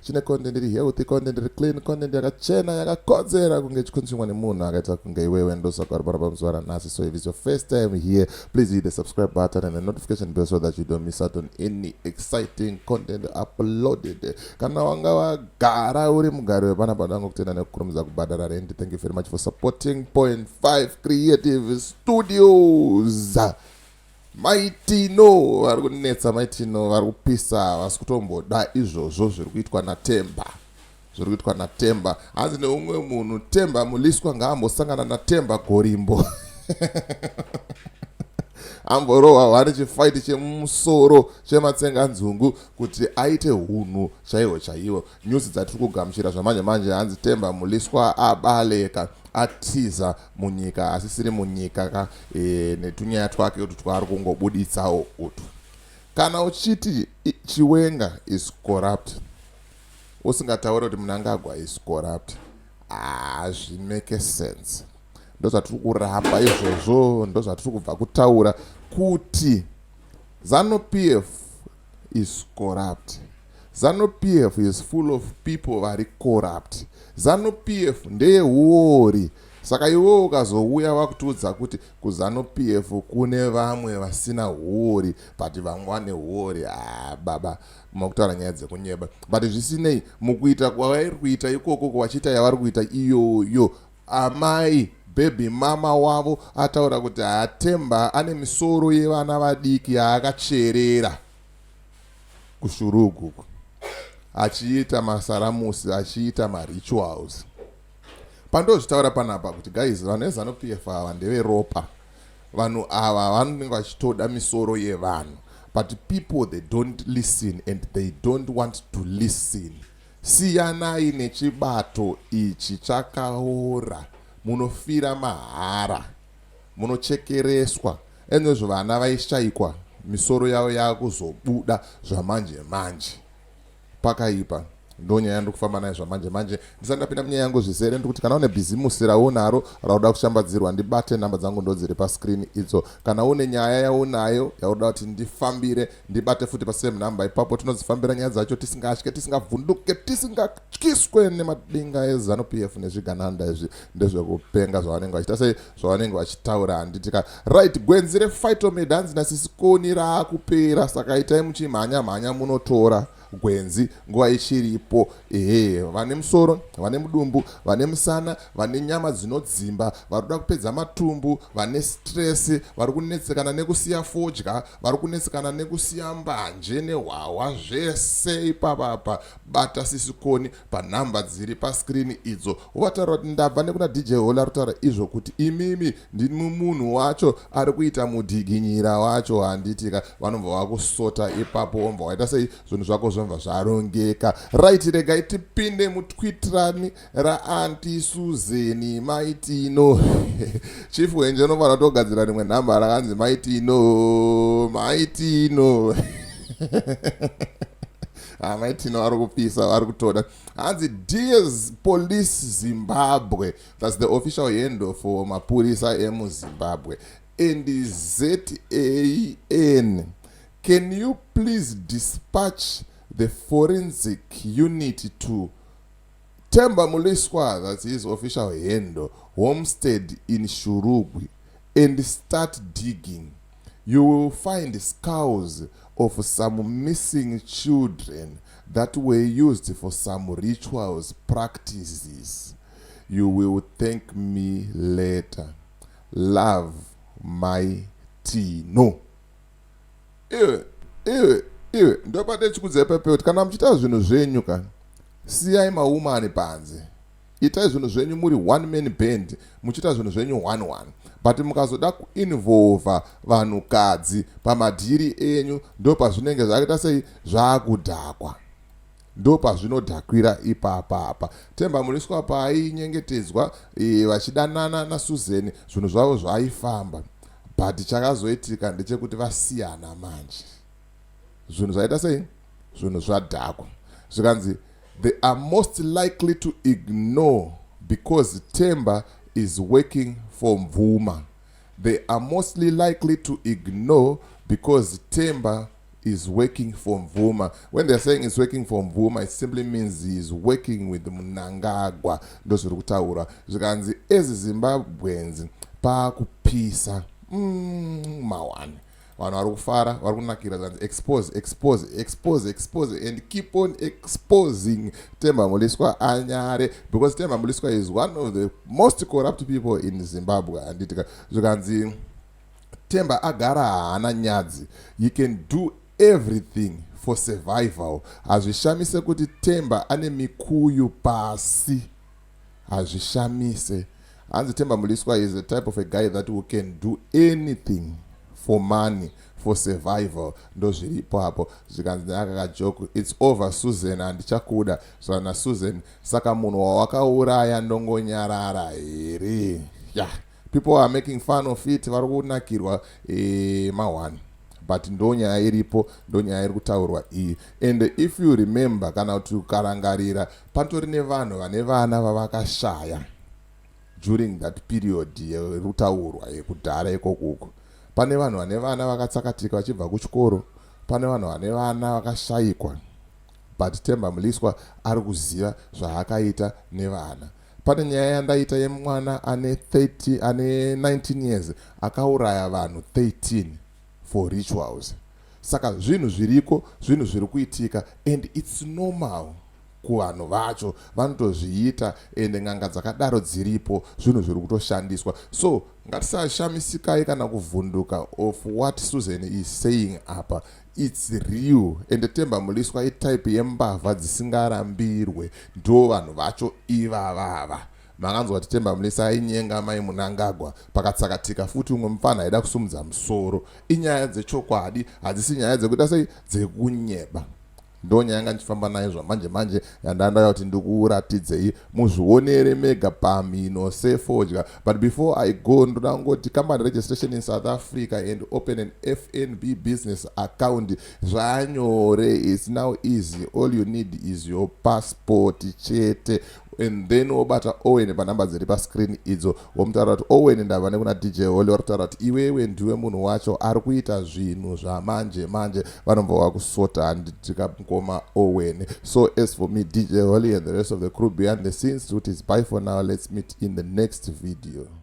chine content iri healthy content iri clean content yakachena yakakodzera kunge ichikunzvimwa nemunhu akaita kunge iwewe ndosaka uri pano pamuzuva ranhasi so if it's your first time here please hit the subscribe button and the notification bell so that you don't miss out on any exciting content uploaded kana wanga wagara uri mugari wepana padango kutenda nekukurumidza kubhadhara rendi thank you very much for supporting point 5 creative studios Mai Tino vari kunetsa, Mai Tino vari kupisa, havasi kutomboda izvozvo zviri kuitwa naTemba zviri kuitwa naTemba. Hanzi neumwe munhu Temba Muliswa ngaambosangana naTemba Gorimbo amborohwa hwani chifaiti chemusoro chematsenganzungu kuti aite hunhu chaiwo chaiwo News dzatiri kugamuchira zvamanje manje hanzi Temba Muliswa abaleka atiza munyika asisiri munyika ka e, netunyaya twake utu twaari kungobuditsawo utu. Kana uchiti Chiwenga is corrupt usingataure kuti Mnangagwa is corrupt hazvimeke ah, sense. Ndozvatiri kuramba izvozvo ndozvatiri kubva kutaura kuti Zanu PF is corrupt. Zanu PF is full of people vari corrupt. Zanu PF ndeye huori. Saka iwewe ukazouya vakutiudza kuti kuzanu PF kune vamwe vasina huori but vamwe vane huori ah, baba makutaura nyaya dzekunyeba but zvisinei mukuita kwavari kuita ikoko vachiita yavari kuita iyoyo Amai Bhebhi mama wavo ataura kuti haa Themba ane misoro yevana vadiki yaakacherera kuShurugu uku achiita masaramusi achiita marituals. Pandozvitaura panapa kuti guys vanhu veZanu PF ava ndeveropa. Vanhu ava vanenge vachitoda misoro yevanhu but people they don't listen and they don't want to listen. Siyanai nechibato ichi chakaora munofira mahara munochekereswa anywezvo vana vaishaikwa misoro yavo yakuzobuda zvamanje manje pakaipa ndonyaya ndiri kufamba nayo zvamanje manje ndisati ndapinda munyaya yangu zvizere ndiri kuti kana une bhizimusi raunaro rauda kushambadzirwa ndibate nhamba dzangu ndodziri pascreen idzo kana une nyaya yaunayo yauda kuti ndifambire ndibate futi pasame number ipapo tinodzifambira nyaya dzacho tisingatye tisingavhunduke tisingatyiswe nemadinga ezanu p f nezvigananda izvi ndezvekupenga zvavanenge vachita sei zvavanenge vachitaura handitika right gwenzi refitomid hanzi nasisikoni raakupera saka itai muchimhanya mhanya munotora gwenzi nguva ichiripo ehe vane musoro vane mudumbu vane musana vane nyama dzinodzimba vari kuda kupedza matumbu vane stress vari kunetsekana nekusiya fodya vari kunetsekana nekusiya mbanje nehwahwa zvese ipapapa bata sisikoni panhamba dziri paskrini idzo wataura kuti ndabva nekuna dj hola rutaura izvo kuti imimi ndimi munhu wacho ari kuita mudhiginyira wacho handitika vanobva vakusota ipapo womva waita sei zvinhu zvako zvomva zvarongeka right regai tipinde mutwitrani raanti suzeni maitino chief wenje unofanira kutogadzira rimwe nhamba rakanzi maitino maitino amai tino ari kupisa vari kutoda hanzi ds police zimbabwe thats the official handle for mapurisa emuzimbabwe and zan can you please dispatch the forensic unit to temba muliswa thats his official handle homestead in shurugwi and start digging You will find skulls of some missing children that were used for some rituals practices. You will thank me later. Love my Tino. Iwe, iwe, iwe, ndopate chikudzai pepeuti kana muchiita zvinhu zvenyu ka siyai maumani panze. Itai zvinhu zvenyu muri one man band muchiita zvinhu zvenyu one one but mukazoda kuinvolva vanhukadzi pamadhiri enyu ndo pazvinenge zvakaita sei zvakudhakwa ndo pazvinodhakwira ipapa apa temba muriswa paainyengetedzwa e, vachidanana nasuzeni zvinhu zvavo zvaifamba but chakazoitika ndechekuti vasiyana manje zvinhu zvaita sei zvinhu zvadhakwa zvikanzi they are most likely to ignore because temba is working for mvuma they are mostly likely to ignore because temba is working for mvuma when they're saying is working for mvuma it simply means he is working with munangagwa ndozviri kutaura zvikanzi ezi zimbabwenzi paakupisa mm, mawani vanhu vari kufara vari kunakira zvanzi expose expose expose expose and keep on exposing temba muliswa anyare because temba muliswa is one of the most corrupt people in zimbabwe handitika zvikanzi temba agara haana nyadzi you can do everything for survival hazvishamise kuti temba ane mikuyu pasi Hazvishamise. Hanzi Themba Mliswa is a type of a guy that who can do anything for money for survival ndozviripo apo zvikanzi neaka kajoku its over susan handichakuda saka nasusan saka munhu wawakauraya ndongonyarara here yeah. people are making fun of it vari kunakirwa eh, mahwani but ndonyaya iripo ndonyaya iri kutaurwa iyi and if you remember kana kuti ukarangarira Patori nevanhu vane vana vavakashaya during that period yerutaurwa yekudhara ikokuko. Pane vanhu vane vana vakatsakatika vachibva kuchikoro, pane vanhu vane vana vakashaikwa but Temba Muliswa ari kuziva zvaakaita nevana pane nyaya yandaita yemwana ane 30 ane 19 years akauraya vanhu 13 for rituals Saka zvinhu zviriko zvinhu zviri kuitika and it's normal kuvanhu vacho vanotozviita ende n'anga dzakadaro dziripo zvinhu zviri kutoshandiswa so ngatisashamisikayi kana kuvhunduka of what susan is saying apa its real ende temba muliswa itype yembavha dzisingarambirwe ndo vanhu vacho ivavava Makanzwa kuti Themba Mlisa ainyenga mai Munangagwa pakatsakatika futi umwe mupfana aida kusumudza musoro. Inyaya dzechokwadi, hadzisi nyaya dzekuita sei dzekunyeba. Ndonyaya yanga ndichifamba nayo zvamanje manje yandandaya kuti ndikuratidzei muzvionere mega pamhino sefodya but before i go ndoda kungoti company registration in south africa and open an fnb business account zvanyore its now easy all you need is your passport chete and then wobata owen panhamba dziri pascreen idzo womutaura kuti owen ndava nekuna dj holy vari kutaura kuti iwewe ndiwe munhu wacho ari kuita zvinhu zvamanje manje vanobva wakusota handidika mukoma owen so as for me dj holy and the rest of the crew behind the scenes kuti is by for now let's meet in the next video